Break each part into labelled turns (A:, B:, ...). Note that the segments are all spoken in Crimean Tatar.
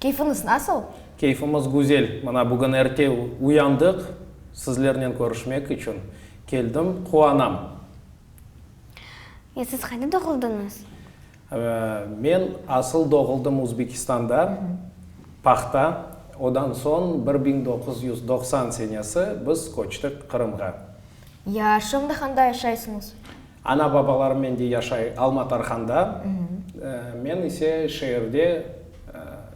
A: Keyfiñiz nasıl? Keyfimiz güzel.
B: Mına bugün erte uyandıq, sizlernen körüşmek içün keldim. Quvanam.
C: E, siz qayda doğuldıñız?
B: Men asıl doğuldım Uzbekistanda, Pahta. Odan soñ bir biñ doquz yüz doqsan senesi biz köçtik Qırımğa. Yaşıñdı
A: handa yaşaysıñız? Ana-babalarımnen
B: de yaşay Alma Tarhanda, men ise şeerde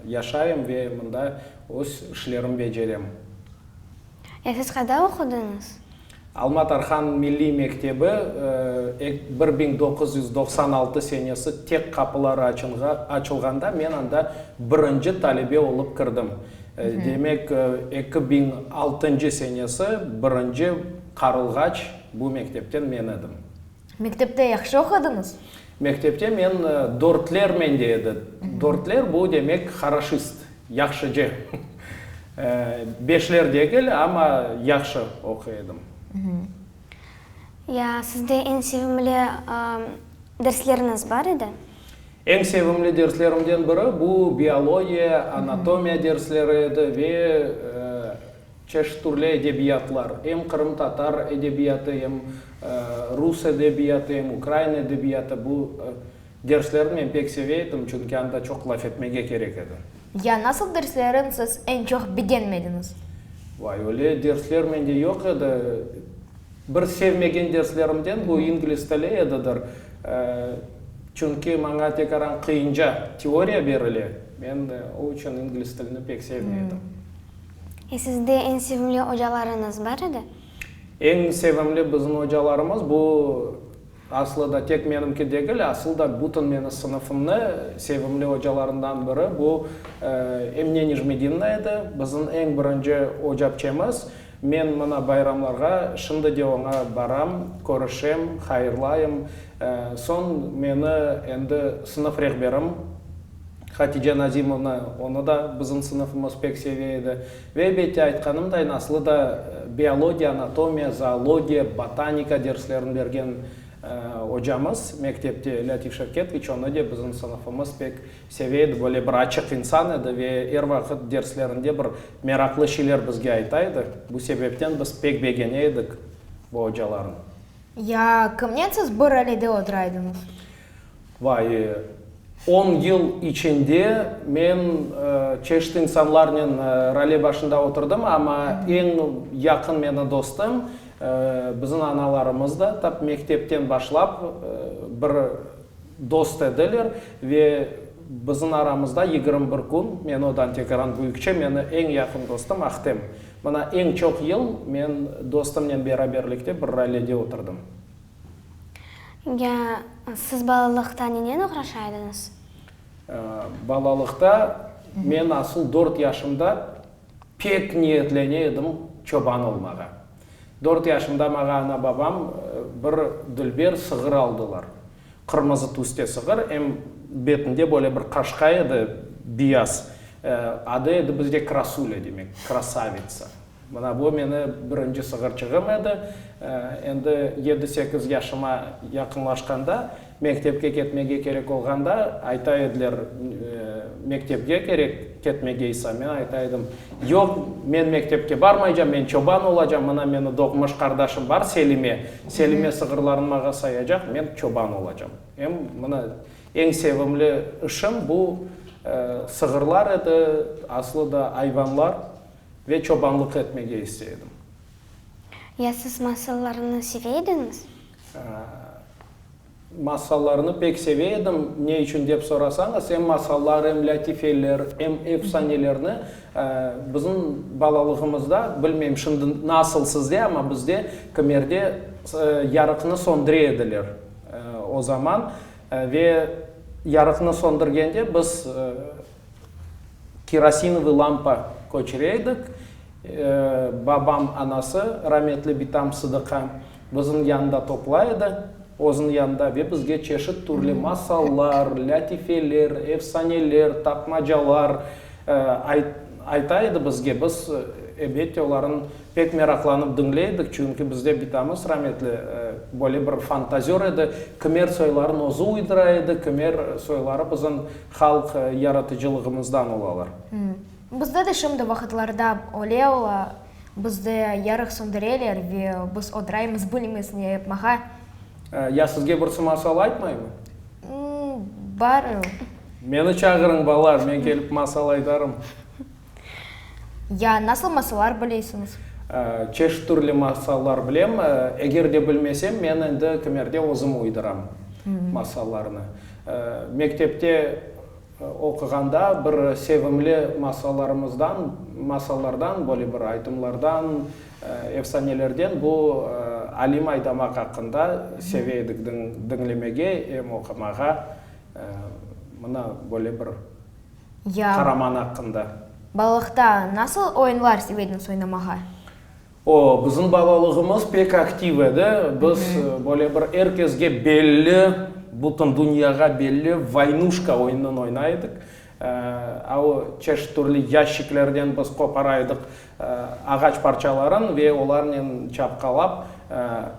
B: yaşayım ve mında öz işlerim becerem.
C: Ya siz qayda oqudıñız? Alma Tarhan
B: milliy mektebi bir biñ doquz yüz doqsan altı senesi tek qapıları açınğa açılğanda men anda birinci talebe olıp kirdim. Demek, eki biñ altıncı senesi birinci qarılğaç Bu mektepten men edim. Mektepte
A: yahşı oqudıñız? Mektepte men
B: dörtler mende edi. Dörtler, bu demek, haraşist, yahşıcı. Beşler degil, amma yahşı oquy edim.
C: Ya sizde eñ sevimli dersleriniz bar edi? Eñ
B: sevimli derslerimden biri, bu biologiya, anatomiya dersleri edi ve. Çeşit türlü edebiyatlar, em qırımtatar edebiyatı, em rus edebiyatı, em ukrain edebiyatı, bu derslerni men pek seve edim, çünki anda çoq laf etmege kerek edi. Ya nasıl derslerin
A: siz eñ çoq begenmediñiz? Vay, öyle
B: dersler mende yoq edi. Bir sevmegen derslerimden bu ingliz tili edidir. Çünki maña tekaran qıyınca teoriya berile, men o içün ingliz tilini pek sevmey edim. E
C: sizde eñ sevimli ocalarıñız bar edi? Eñ
B: sevimli bizim ocalarımız, bu aslı da tek menimki degil, asıl da bütün meni sınıfımnı sevimli ocalarından biri bu Emine Nijmedinna edi. Bizim eñ birinci ocapçemiz. Men mına bayramlarğa şimdi de oña baram, körüşem, hayırlayım. Soñ meni endi sınıf rehberim. Hatice Nazimovna, onı da bizim sınıfımız pek seve edi. Ve, ebette, aytqanımdayn, aslı da biologiya, anatomiya, zoologiya, botanika derslerini bergen ocamız mektepte, Lâtif Şevketviç, onı de bizim sınıfımız pek seve edi, böyle bir açıq insan edi ve er vaqıt derslerinde bir meraqlı şeyler bizge ayta edi. Bu sebepten biz pek begene edik bu ocalarnı. Ya,
A: kimnen siz bir alede otura ediñiz? Vay,
B: on yıl içinde men çeşit insanlarnen role başında oturdım, amma eñ yaqın meni dostum, bizim analarımız da tap mektepten başlap bir dost ediler ve bizim aramızda yigirmi bir kün, men o Dantegaran büyükçe, meni eñ yaqın dostum Ahtem. Mına eñ çoq yıl men dostumnen beraberlikte bir rolede oturdım. Ya
C: siz balalıqta nenen oğraşa ediñiz? Balalıqta
B: men asıl dört yaşımda pek niyetlene edim çoban olmağa. Dört yaşımda maña ana-babam bir dülber sığır aldılar. Qırmızı tüste sığır, em betinde böyle bir qaşqa edi, biyaz. Adı edi bizde Krasulya, demek, krasavitsa. Mına bu meni birinci sığırçığım edi. Endi yedi-sekiz yaşıma yaqınlaşqanda, mektepke ketmege kerek olğanda, ayta ediler, Mektepge kerek ketmegeysa? Men ayta edim, Yoq, men mektepke barmaycam, men çoban olacam, mına meni doğmuş qardaşım bar, Selime. Selime sığırlarını mağa sayacaq, men çoban olacam. Em mına eñ sevimli işim bu sığırlar edi, aslı da ayvanlar. Ve çobanlıq etmege isteydim.
C: Ya siz masallarnı seve ediñiz?
B: Masallarnı pek seve edim. Ne içün dep sorasañız, em masallar, em lâtifeler, em efsanelerni bizim balalığımızda, bilmeyim şimdi nasıl sizde, amma bizde kimerde yarıqnı söndüre ediler o zaman. Ve yarıqnı söndürgende biz. Kerosinovı lampa köçüre edik. Babam anası, rametli bitam Sıdıqa, biziñ yanında topla edi, özüñ yanında, ve bizge çeşit türlü masallar, lâtifeler, efsaneler, tapmacalar ayta edi bizge. Biz, ebette, olarnı pek meraqlanıp diñley edik, çünki bizde bitamız rametli böyle bir fantazör edi, kimer soyların özü uydıra edi, kimer soyları biziñ Halq yaratıcılığımızdan olalar. Bizde de
A: şimdi vaqıtlarda öyle ola, bizde yarıq söndüreler ve biz odıraymız, bilmiyiz ne yapmağa. Ya
B: sizge birisi masal aytmaymı?
A: Bar.
B: Meni çağırıñ, bala, men kelip masal aytarım.
A: Ya nasıl masallar bilesiñiz? Çeşit
B: türlü masallar bilem. Eger de bilmesem, men endi kimerde özüm uyduram masallarnı. Mektepte oquğanda bir sevimli masallarımızdan, masallardan, böyle bir aytımlardan, efsanelerden bu Alim Aydamaq aqqında seve edik diñlemege, em oqumağa. Mına böyle bir Ya. Qaraman aqqında. Balalıqta
A: nasıl oyunlar sevediñiz oynamağa? O,
B: bizim balalığımız pek aktiv edi. Biz böyle bir er kezge belli, bütün dünyağa belli Vaynuşka oyunıñ oynay edik. Çeşit türlü yaşiklerden biz qopara edik Ağaç parçaların ve olarnen çapqalap,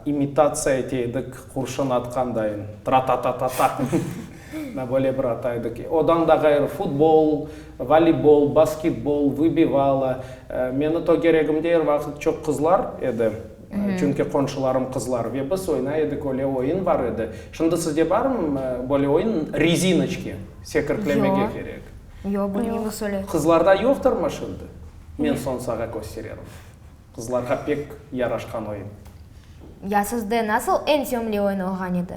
B: imitatsiya ete edik qurşun atqandayın, tra-ta-ta-ta-ta, na böyle bir ata edik. Odan da ğayrı, futbol, voleybol, basketbol, vıbivala. Meni tögeregimde er vaqıt çoq qızlar edi, çünki qonşularım qızlar, ve biz oynay edik, öyle oyun bar edi. Şimdi sizde barmı böyle oyun, rezinoçki, sekirtlemege kerek? Yoq, bilmeymiz
A: öyle. Qızlarda yoqtırmı
B: şimdi? Men Sonsağa köstererim. Qızlarğa pek yaraşqan oyun. Ya
A: sizde nasıl eñ sevimli oyun olğan edi?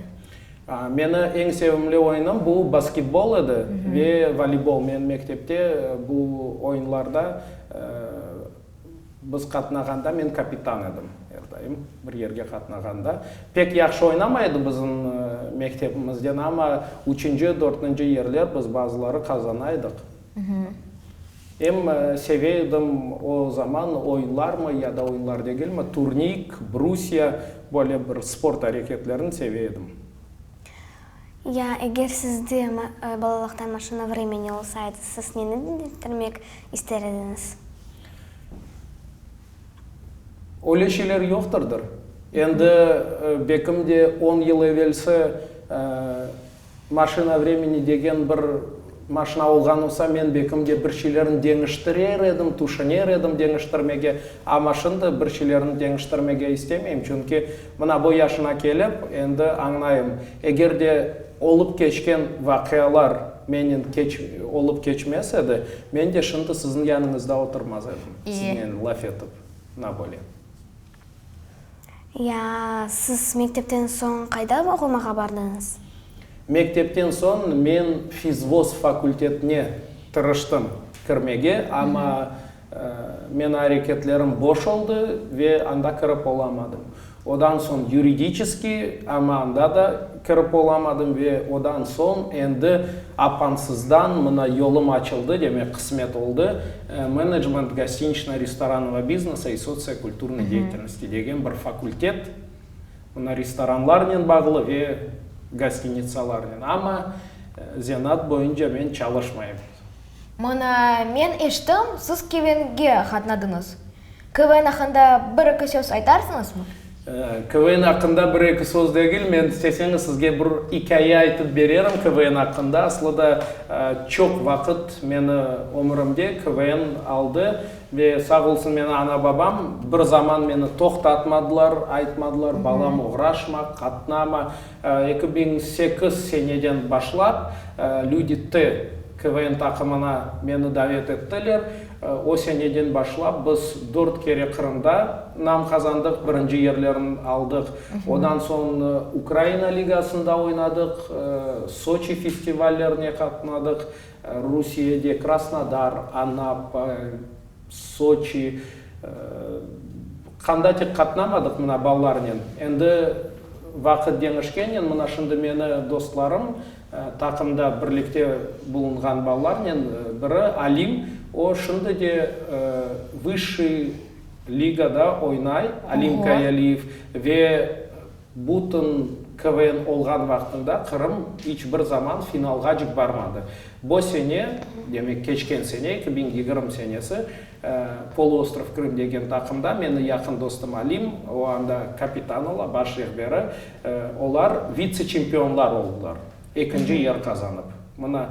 A: Meni
B: eñ sevimli oyunım bu basketbol edi ve voleybol. Men mektepte bu oyunlarda biz qatnağanda men kapitan edim. Er daim bir yerge qatnağanda. Pek yahşı oynamay edi bizim mektebimizden, amma üçünci, dörtünci yerler biz bazıları qazana edik. Em seve edim o zaman oyunlarmı ya da oyunlar degilmi, turnik, brusiya, böyle bir sport areketlerini seve edim. Ya
C: eger sizde balalıqtan maşina vremeni olsaydı, siz neni deñiştirmek ister ediñiz?
B: Öyle şeyler yoqtırdır. Endi bekim de on yıl evelsi Maşina vremeni degen bir maşina olğan olsa, men bekim de bir şeylerni deñiştirer edim, tüşüner edim deñiştirmege, amma şimdi bir şeylerni deñiştirmege istemeyim, çünki mına bu yaşına kelip, endi añlayım, eger de olıp keçken vaqialar menen keç olıp keçmes edi, men de şimdi siziñ yanıñızda oturmaz edim, siznen laf etip, na böyle. Ya
C: siz mektepten soñ qayda oqumağa bardıñız? Mektepten
B: soñ men fizvoz fakultetine tırıştım kirmege, amma men areketlerim boş oldı ve anda kirip olamadım. Odan soñ yuridiçeskiy, amma anda da. Kirip olamadım ve odan soñ endi apansızdan mına yolum açıldı, demek qısmet oldı, Menecment gostiniçno-restoranного biznesa i sociokulturnıy deyetelnosti degen bir fakultet, mına restoranlarnen bağlı ve gostinitsalarnen, amma zenaat boyunca men çalışmayım. Mına,
A: men eşittim, siz Kevenge qatnadıñız. KVN aqqında bir-eki söz aytarsıñızmı? KVN
B: aqqında bir-eki söz degil, men isteseñiz sizge bir ikâye aytıp bererim KVN aqqında. Aslı da çoq vaqıt meni ömürimde KVN aldı ve sağ olsun meni ana-babam bir zaman meni toqtatmadılar, aytmadılar, balam oğraşma, qatnama. Eki biñ sekiz seneden başlap Lüdi T KVN taqımına meni davet ettiler. O seneden başlap biz dört kere Qırımda nam qazandıq, birinci yerlerni aldıq. Ondan soñ Ukraina ligasında oynadıq, Soçi festivallerine qatnadıq, Rusiyede Krasnodar, Anapa. Soçi, qandatik qatnamadıq mına balalarnen. Endi vaqıt deñişkennen, mına şimdi meni dostlarım, taqımda birlikte bulunğan balalarnen biri, Alim, o şimdi de vısshıy ligada oynay, Alim Kayaliyev, ve Bütün KVN olğan vaqtında Qırım iç bir zaman finalğacık barmadı. Bu sene, demek, keçken sene, eki biñ yigirmi senesi, Poloostrov Krım degen taqımda, meni yaqın dostum Alim, o anda kapitan ola, baş rehberi, olar vitse-çempionlar oldılar, ekinci yer qazanıp. Mına,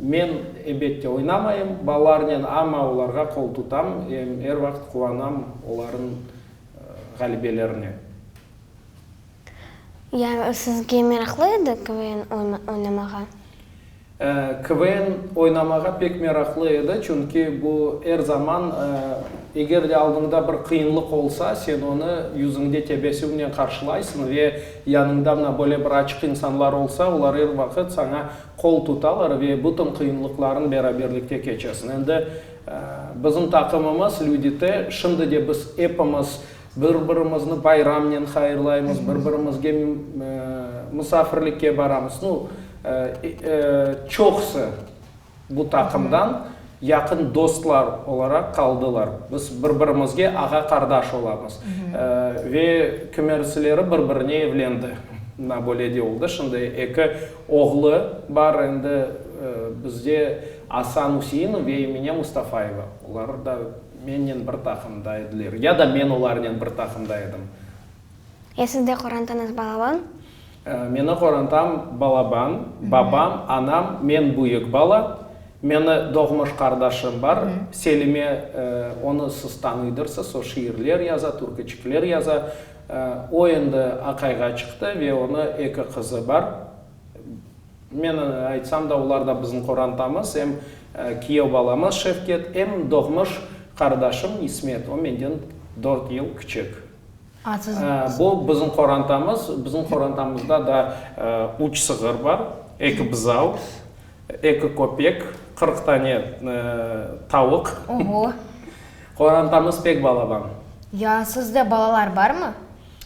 B: men, ebette, oynamayım balalarnen, amma olarğa qol tutam, em er vaqıt quvanam olarnıñ ğalebelerine.
C: Yani sizge meraqlı edi KVN oynamağa?
B: KVN oynamağa pek meraqlı edi, çünki bu er zaman, eger de aldıñda bir qıyınlıq olsa, sen onı yüzüñde tebessümnen qarşılaysıñ ve yanıñda mına böyle bir açıq insanlar olsa, olar er vaqıt saña qol tutalar ve bütün qıyınlıqlarını beraberlikte keçesiñ. Endi Bizim taqımımız, Lüdi T. Şimdi de biz epimiz bir-birimizni bayramnen hayırlaymız, bir-birimizge musafirlikke baramız. Nu, çoqusı bu taqımdan yaqın dostlar olaraq qaldılar. Biz bir-birimizge ağa-qardaş olamız. Ve kimersileri bir-birine evlendi. Na böyle de oldı. Şimdi eki Oğlu bar endi bizde, Asan Useinov ve Emine Mustafayeva. Olar da mennen bir taqımda ediler. Ya da men olarnen bir taqımda edim. E siz
C: de qorantañız balaban? Meni
B: qorantam balaban, babam, anam, men büyük bala. Meni doğmuş qardaşım bar, Selime, onı siz tanıydırsız, o şiirler yaza, türküçikler yaza. O endi aqayğa çıqtı ve onı eki qızı bar. Men aytsam da, olar da bizim qorantamız, em kiyev balamız Şevket, em doğmuş qardaşım İsmet, o menden dört yıl kiçik. Bu bizim qorantamız, bizim qorantamızda da üç sığır bar, eki buzau, Eki köpek, qırq tane tavuq. Oho! Qorantamız pek balaban. Ya, sizde
A: balalar barmı?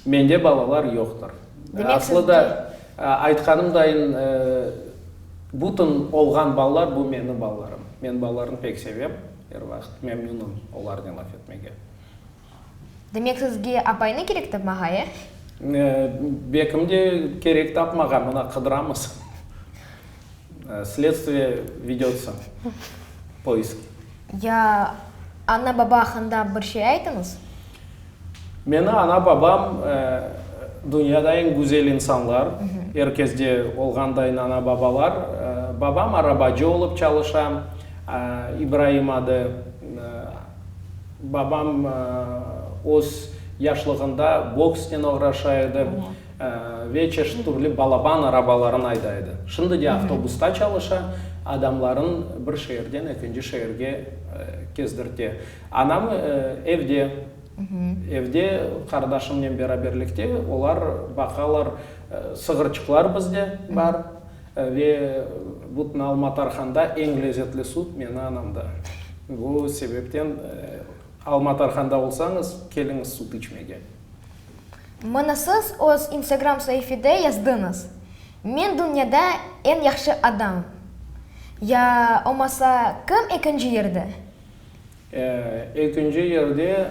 A: Mende balalar
B: yoqtır. Demek, sizde. Aslı da, aytqanımdayın, bütün olğan balalar, bu menim balalarım. Men balalarnı pek sevem, er vaqıt memnünım olarnen laf etmege.
A: Demek, sizge apaynı kerek tapmağa, e? Bekim de
B: kerek tapmağa, mına qıdıramız. Sledstviye vedется poisk. Ya
A: ana-baba aqqında bir şey aytıñız.
B: Meni ana-babam dünyada eñ güzel insanlar, er kezde olğandayın ana-babalar. Babam arabacı olıp çalışa, İbraim adı. Babam öz yaşlığında boksnen oğraşa edi ve çeşit türlü balaban arabalarını ayda edi. Şimdi de avtobusta çalışa, adamların bir şeerden ekinci şeerge kezdirte. Anam evde, evde qardaşımnen beraberlikte olar baqalar. Sığırçıqlar bizde bar. Ve bütün Alma Tarhanda eñ lezetli sut meni anamda. Bu sebepten Alma Tarhanda olsañız, keliñiz sut içmege.
A: Mına siz öz instagram saifede yazdıñız, Men dünyada eñ yahşı adam. Ya omasa kim ekinci yerde? Ekinci yerde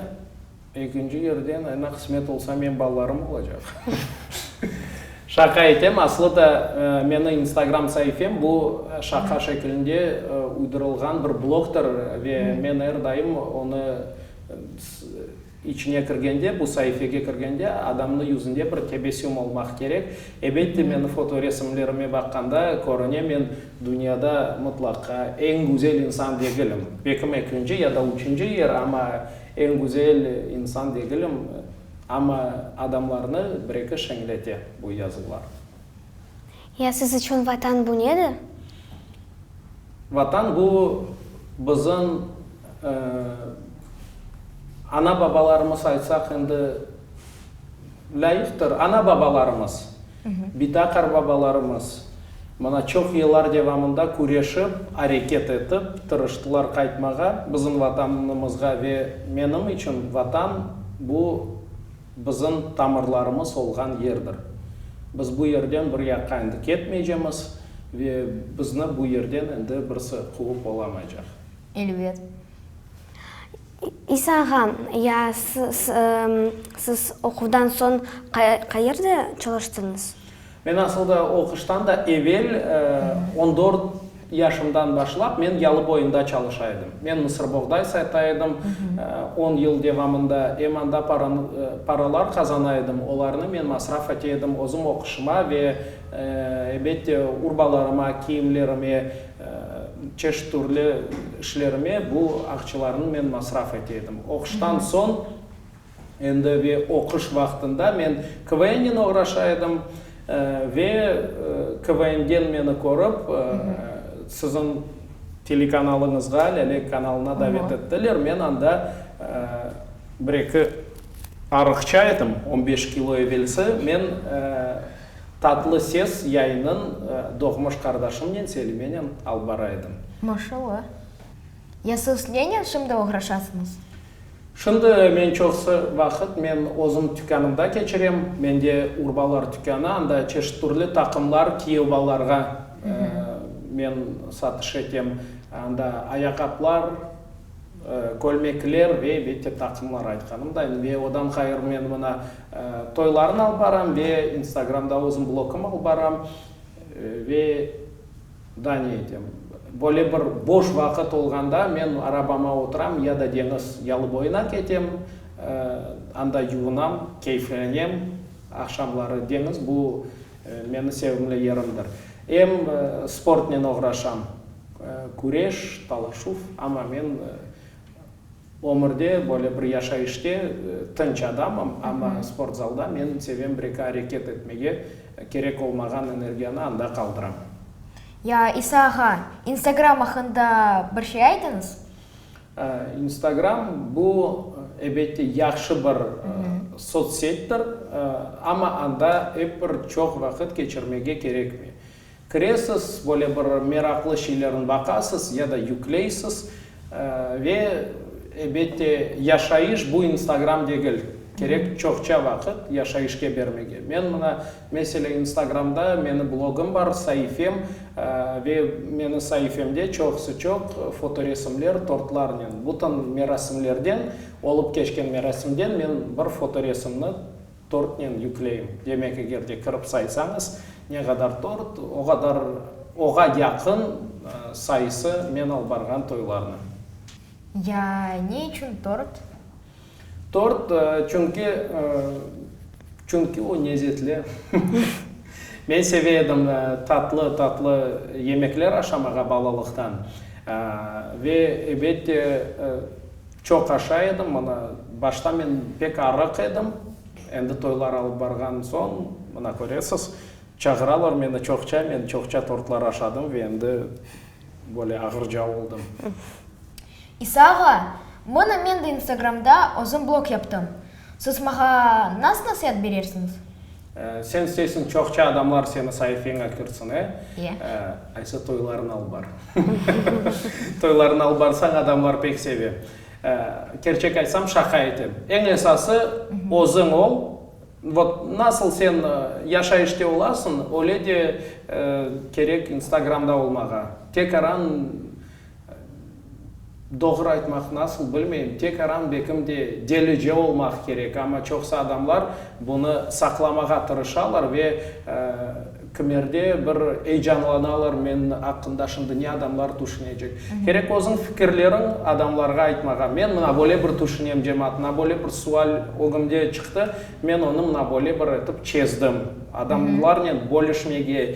A: Ekinci yerden ana
B: qısmet olsa men balalarım olacaq. Şaqa etem, aslı da meni instagram saifem bu şaqa şekilinde uydurılğan bir blogdır ve men er daim onı içine kirgende bu saifege kirgende adamnı yüzünde bir tebessüm olmaq kerek. Ebette meni foto resimlerime baqqanda körüne men dünyada mıtlaqa eñ güzel insan degilim. Bekim ekinci ya da üçünci yer ama Eñ güzel insan degilim, amma adamlarnı bir-eki şeñlete bu yazuvlar.
C: Ya siz içün Vatan bu nedir? Vatan
B: bu, bizim ana-babalarımız aytsaq endi lâyıqtır, ana-babalarımız. Bita qarbabalarımız mına çoq yıllar devamında küreşip, areket etip, tırıştılar qaytmağa bizim Vatanımızğa ve menim içün Vatan, bu bizim tamırlarımız olğan yerdir. Biz bu yerden bir yaqqa endi ketmeycemiz ve bizni bu yerden endi birisi quvıp olamaycaq. Elbet.
C: İsa ağa, ya siz oquvdan soñ qayerde çalıştıñız? Men asılda
B: oquştan da evel, on dört yaşımdan başlap, men Yalıboyunda çalışa edim. Men mısırboğday sata edim, on yıl devamında. Em anda paralar qazana edim, olarnı men masraf ete edim, özüm oquşıma ve, ebet de, urbalarıma, kiyimlerime. Çeşit türlü işlerime bu aqçalarnı men masraf ete edim. Oquştan soñ endi ve oquş vaqtında men KVNnen oğraşa edim. Ve KVNden meni körip, siziñ telekanalıñızğa, Lâle kanalına davet ettiler. Men anda bir-eki arıqça edim, on beş kilo evelsi. Men. Tatlı ses yayınıñ doğmuş qardaşımnen Selimenen alıp bara edim. Maşalla.
A: Yasuz nenen şimdi oğraşasıñız? Şimdi
B: men çoqsı vaqıt men özüm tükânımda keçirem. Mende urbalar tükânı, anda çeşit türlü taqımlar, kiyev-balarğa men satış etem. Anda ayaqaplar. Kölmekler ve elbette taqımlar aytqanımday. Ve odan ğayrı men mına toylarnı alıp baram ve instagramda özüm blogım alıp baram. Ve da ne etem, böyle bir boş vaqıt olğanda men arabama oturam ya da deñiz yalıboyuna ketem, anda yuvunam, keyflenem. Aqşamları deñiz bu meni sevimli yerimdir. Em sportnen oğraşam. Küreş, talaşuv, amma men ömürde, böyle bir yaşayışta tınç adamım, amma sportzalda men sevem bir eki areket etmege, kerek olmağan energiyanı anda qaldıram. Ya
A: İsa ağa, instagram aqqında bir şey aytıñız?
B: İnstagram, bu, ebette, yahşı bir sotsettir, amma anda ep bir çoq vaqıt keçirmege kerekmey. Kiresiz, böyle bir meraqlı şeylerni baqasız ya da yükleysiz. Ve, ebette, yaşayış bu instagram degil. Kerek çoqça vaqıt yaşayışke bermege. Men mına, mesele, instagramda meni blogım bar, saifem. Ve meni saifemde çoqusı çoq fotoresimler, tortlarnen. Bütün merasimlerden, olıp keçken merasimden men bir fotoresimni Törtnen yükleyim. Demek, eger de kirip saysañız, ne qadar tort, o qadar, oğa yaqın sayısı men alıp barğan toylarnıñ. Ya
A: ne içün tort?
B: Tort, çünki, çünki o nezetli. Men seve edim tatlı, tatlı yemekler aşamağa balalıqtan. Ve, ebette, Çoq aşa edim, mına, başta men pek arıq edim, endi toylar alıp barğan soñ, mına, köresiz, çağıralar meni çoqça, men çoqça tortlar aşadım ve endi böyle ağırca oldım.
A: İsa ağa, mına, men de instagramda özüm blog yaptım. Siz mağa nasıl nasiat berersiñiz? Sen
B: isteysiñ, çoqça adamlar seni saifeñe kirtsin, e? İye. Ayse toylarına alıp bar. Toylarına alıp barsañ, adamlar pek seve. Kerçek aytsam, şaqa etem. Eñ esası, özüñ ol. Vot, nasıl sen yaşayışta olasıñ, öyle de kerek instagramda olmağa. Tek aran, Doğru aytmaq nasıl, bilmeyim. Tek Aram Bekim de delice olmaq kerek, amma çoqsı adamlar bunı saqlamağa tırışalar ve kimerde bir eyecanlanalar, men aqqında şimdi ne adamlar tüşünecek. Kerek özüñ fikirleriñ adamlarğa aytmağa. Men mına böyle bir tüşünem, cemaat, mına böyle bir sual ögümde çıqtı, men onı mına böyle bir etip çezdim. Adamlarnen bölüşmege,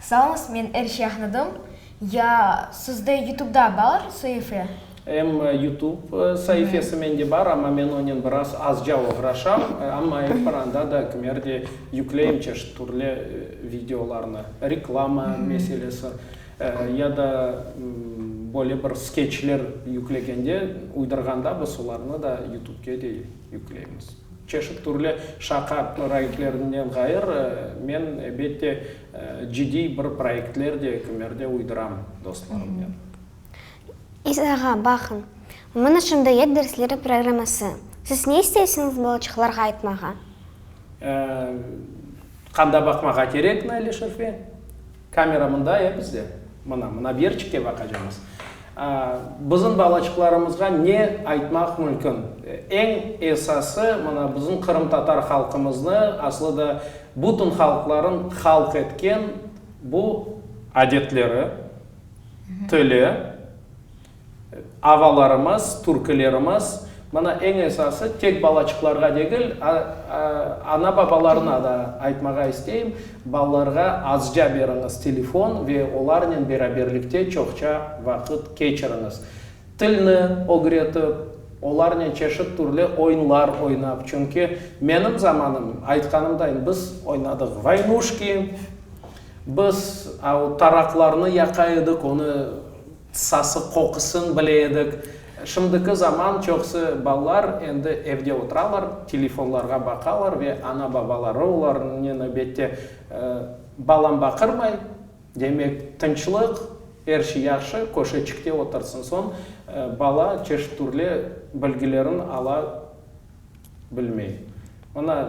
B: Salnıs men er
A: şey añladım. Ya sizde yutubda bar saife? Em
B: yutub saifesi mende bar, amma men onen biraz azca oğraşam, amma er bir anda da kimer de yükleyim çeşit türlü videolarnı. Reklama meselesi ya da böyle bir skeçler yüklegende, uydurğanda biz olarnı da yutubge de. yükleymiz. Çeşit türlü şaqa proyektlerinden ğayır, men, ebette, cidiy bir proyektler de kümerde uydıram dostlarımnen.
C: İzağa baqıñ. Mına şındayet dersleri programması. Siz ne isteysiñiz balaçıqlarğa aytmağa?
B: Qanda baqmağa kerekmi, Alişefe? Kamera mında ya bizde. Mına, mına bir yerçikte baqacağımız. Bizim balaçıqlarımızğa ne aytmaq mümkün? Eñ esası, mına, bizim qırımtatar halqımıznı, aslı da bütün halqların halq etken bu adetleri, tili, Avalarımız, türkilerimiz, mana eñ esası tek balaçıqlarğa degil, ana-babalarına da aytmağa isteyim, balalarğa azca beriñiz telefon ve olarnen beraberlikte çoqça vaqıt keçiriñiz. Tilni ögretip, olarnen çeşit türlü oyunlar oynap, çünki menim zamanım, aytqanımdayım, biz oynadıq vaynuşki, biz o taraqlarnı yaqa edik, onı Sası, qoqusın bile edik. Şimdiki zaman çoqusı balalar endi evde oturalar, telefonlarğa baqalar ve ana-babaları olarnı növbette, Balam baqırmay, demek, tınçlıq, er şey yahşı, köşeçikte otursın. Soñ bala çeşit-türlü bilgilerin ala. bilmey. Mına,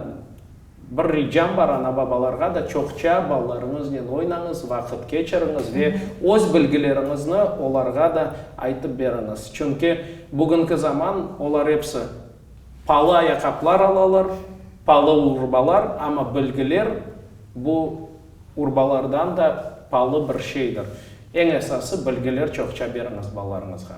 B: bir ricam bar ana-babalarğa da, çoqça balalarıñıznen oynañız, vaqıt keçiriñiz ve öz bilgileriñizni olarğa da aytıp beriñiz. Çünki bugünki zaman, olar episi palı ayaqaplar alalar, palı urbalar, amma bilgiler bu urbalardan da palı bir şeydir. Eñ esası, bilgiler çoqça beriñiz balalarıñızğa.